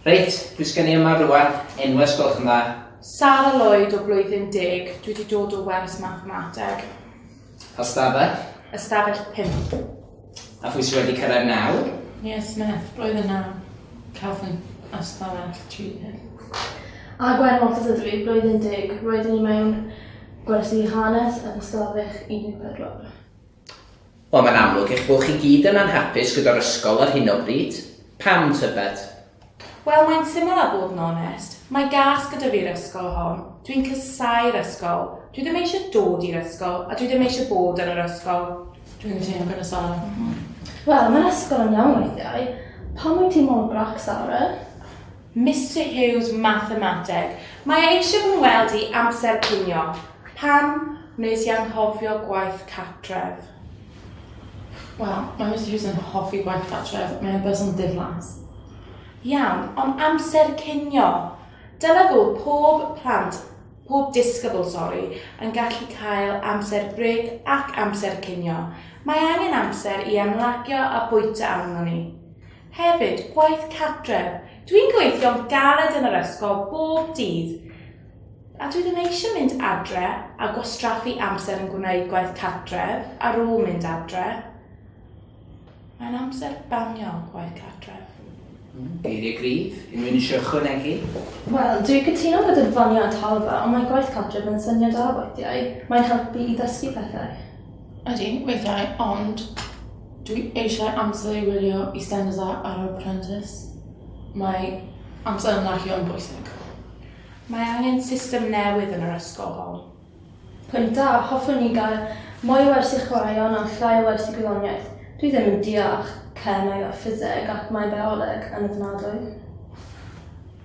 Reit, pwy sgen i yma rwan? Enwes gwelwch yn dda. Sara Lloyd o blwyddyn deg, dwi wedi dod o wers mathemateg. Ystafell? Ystafell 5. A phwy sydd wedi cyrraedd nawr? Ie, Smith, roedd yna cefn ystafell tri hyn. A gwair mor tad ydw i, roedd yn deg, roedd ni mewn gwersi hanes yn ystafell 14. Wel, mae'n amlwg eich bod chi gyd yn anhapus gyda'r ysgol ar hyn o bryd. Pam, tybed? Wel, mae'n syml a bod yn onest. Mae gas gyda fi'r ysgol hon. Dwi'n casau'r ysgol. Dwi ddim eisiau dod i'r ysgol a dwi ddim eisiau bod yn yr ysgol. Dwi'n teimlo gyda Sara. Wel, mae'r ysgol yn iawn weithiau. Pam wyt ti mor grac, Sara? Mister Hughes, Mathemateg. Mae e eisiau fy ngweld i amser cinio. Pam wnes i anghofio gwaith cartref? Wel, mae Mister Hughes yn hoffi gwaith cartref, mae'n berson diflas. Iawn, ond amser cinio. Dyla fod pob plant, pob disgybl, sori, yn gallu cael amser bryd ac amser cinio. Mae angen amser i ymlacio a bwyta arnon ni. Hefyd, gwaith cartref. Dwi'n gweithio'n galed yn yr ysgol bob dydd. A dwi ddim eisiau mynd adre a gwastraffu amser yn gwneud gwaith cartref ar ôl mynd adre. Mae'n amser banio gwaith cartref. Geiriau gryf, unrhywun eisiau ychwanegu? Wel, dwi'n cytuno gyda'r faniau talfa, ond mae gwaith cartref yn syniad da weithiau. Mae'n helpu i ddysgu pethau. Ydy, weithiau, ond dwi eisiau amser i wylio EastEnders a Arab Apprentice. Mae amser ymlacio yn bwysig. Mae angen system newydd yn yr ysgol hon. Pwynt da, hoffwn ni gael mwy o wersi chwaraeon a llai o wersi gwyddoniaeth. Dwi ddim yn deall chem ag a ffiseg ac mae bioleg yn ofnadwy.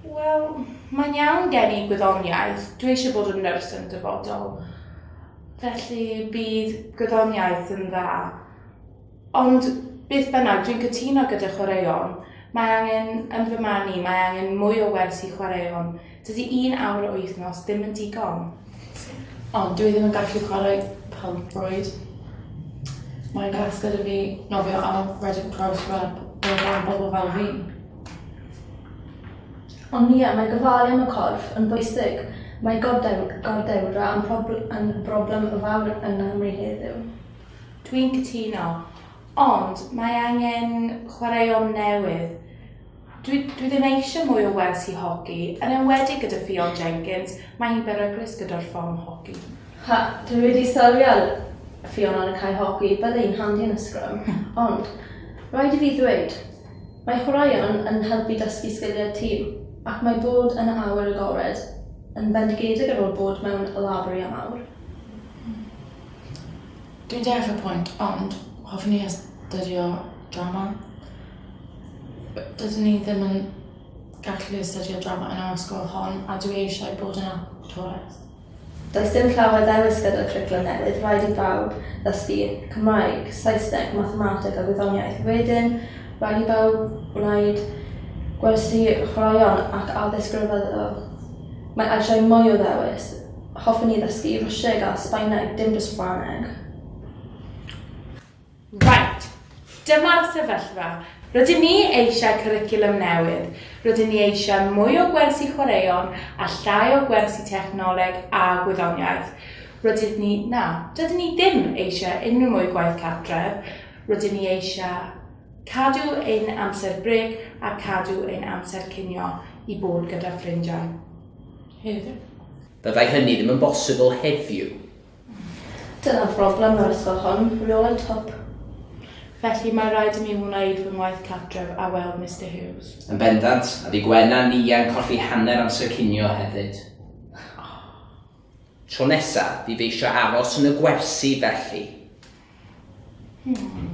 Wel, mae'n iawn gen i gwyddoniaeth, dwi eisiau bod yn nyrs yn dyfodol. Felly bydd gwyddoniaeth yn dda. Ond, beth bynnag, dwi'n cytuno gyda chwaraeon. Mae angen, yn fy marn i, mae angen mwy o wers i chwaraeon. Dydy un awr y wythnos ddim yn digon. Ond dwi ddim yn gallu chwarae pêl-rwyd. Mae'n gas gyda fi nofio ar Reading Cross Rub o dan bobl fel fi. Ond ie, mae gofalu am y corff yn bwysig. Mae gordewdra yn broblem fawr yng Nghymru heddiw. Dwi'n cytuno. Ond mae angen chwaraeon newydd. Dwi, dwi ddim eisiau mwy o wers i hogi, yn enwedig gyda Ffion Jenkins, mae hi'n beryglus gyda'r ffom hogi. Ha, dwi wedi sylwi ar Ffion ar y cae hogi, bydde hi'n handi yn y sgrym. Ond, rhaid i fi ddweud, mae chwaraeon yn helpu dysgu sgiliau tîm, ac mae bod yn awyr agored yn fendigedig ar ôl bod mewn labour i am awr. Dwi'n deall y pwynt ond hoffwn ni astudio drama. Yy dydyn ni ddim yn gallu astudio drama yn yr ysgol hon a dwi eisiau bod yn actores. Does dim llawer ddewis gyda'r cwricwlwm newydd, rhaid i bawb ddysgu Cymraeg, Saesneg, Mathemateg a Gwyddoniaeth. Wedyn, rhaid i bawb wneud gwersi chwaraeon ac addysg ryfeddol. Mae eisiau mwy o ddewis. Hoffwn i ddysgu i Rwsieg a Sbaeneg, dim just Ffrangeg. Right, dyma'r sefyllfa. Rydyn ni eisiau cwricwlwm newydd. Rydyn ni eisiau mwy o gwersi chwaraeon a llai o gwersi technoleg a gwyddoniaeth. Rydyn ni, na, dydyn ni ddim eisiau unrhyw mwy gwaith cartref. Rydyn ni eisiau cadw ein amser brêc a cadw ein amser cinio i bod gyda ffrindiau. Heddiw. Byddai hynny ddim yn bosibl heddiw. Dyna phroblem yr ysgol hon, rheolau twp. Felly mae rhaid i mi wneud fy ngwaith cartref a weld Mister Hughes. Yn bendant, a bu Gwen a Nia yn colli hanner amser cinio hefyd. Tro nesa, fydd fi eisiau aros yn y gwersi, felly. Hmm.